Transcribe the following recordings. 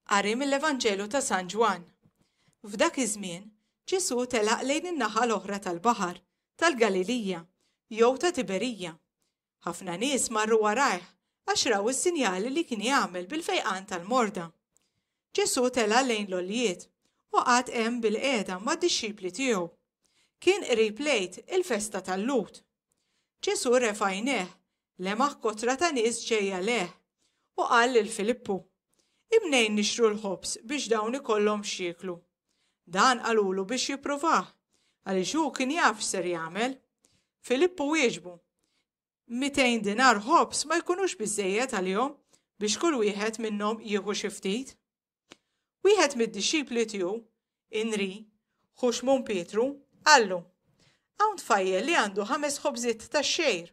Qari mill-Evanġelu ta' San Ġwann. F'dak iż-żmien, Ġesù telaq lejn in-naħa l-oħra tal-baħar, tal-Galilija, jew ta' Tiberija. Ħafna nies marru warajh għax raw is-sinjali li kien jagħmel bil-fejqan tal-morda. Ġesù tela' lejn l-oljiet u qagħad hemm bil-qiegħda mad-dixxipli tiegħu. Kien qrib lejt il-festa tal-Lut. Ġesù refa' jnejh lemaħ kotra ta' nies ġejja lejh, u qal lil Filippu, Imnejn nixtru l-ħobż biex dawn ikollhom x'jieklu. Dan qalulu biex jippruvah, għaliex hu kien jaf x'ser jagħmel. Filippu wieġbu, Mitejn dinar ħobż ma jkunux biżżejjed għalihom biex kull wieħed minnhom jieħu xi ftit. Wieħed mid-dixxipli tiegħu, Inri, ħu Xmun Pietru, qallu, Hawn tfajjel li għandu ħames ħobżiet ta' xejr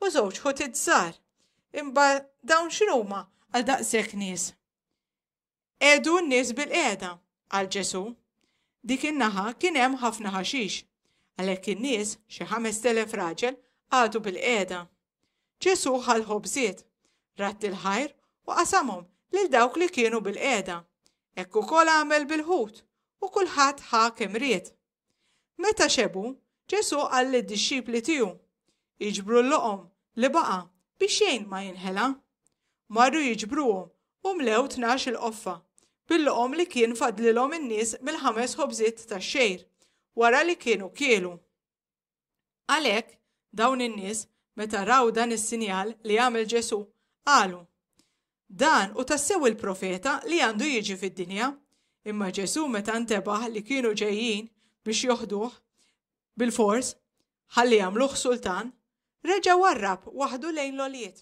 u żewġ ħutit żgħar. Imba dawn x'inhuma għal daqshekk nies? Edu n-nies bil-qiegħda għal Ġesu. Dik in-naħa kien hemm ħafna ħaxix, għalhekk in-nies, xi ħames telef raġel, għadu bil-qiegħda. Ġesù ħa l-ħobżiet, radd il-ħajr u qasamhom lil dawk li kienu bilqiegħda. Hekk ukoll għamel bil-ħut, u kulħadd ħa kemm ried. Meta xebgħu, Ġesù qal lid-dixxipli tiegħu, Iġbru l-loqom li baqa' biex xejn ma jinħela. Marru jiġbruhom u mlew tnax il-qoffa bil-loqom li kien fadlilhom in-nies mill-ħames ħobżiet tax-xgħir wara li kienu kielu. Għalhekk, dawn in-nies, meta raw dan is-sinjal li għamel Ġesù, qalu, Dan hu tassew il-profeta li għandu jiġi fid-dinja. Imma Ġesù meta ntebaħ li kienu ġejjin biex joħduh bil-fors, ħalli jagħmluh sultan, reġa' warrab waħdu lejn l-olijiet.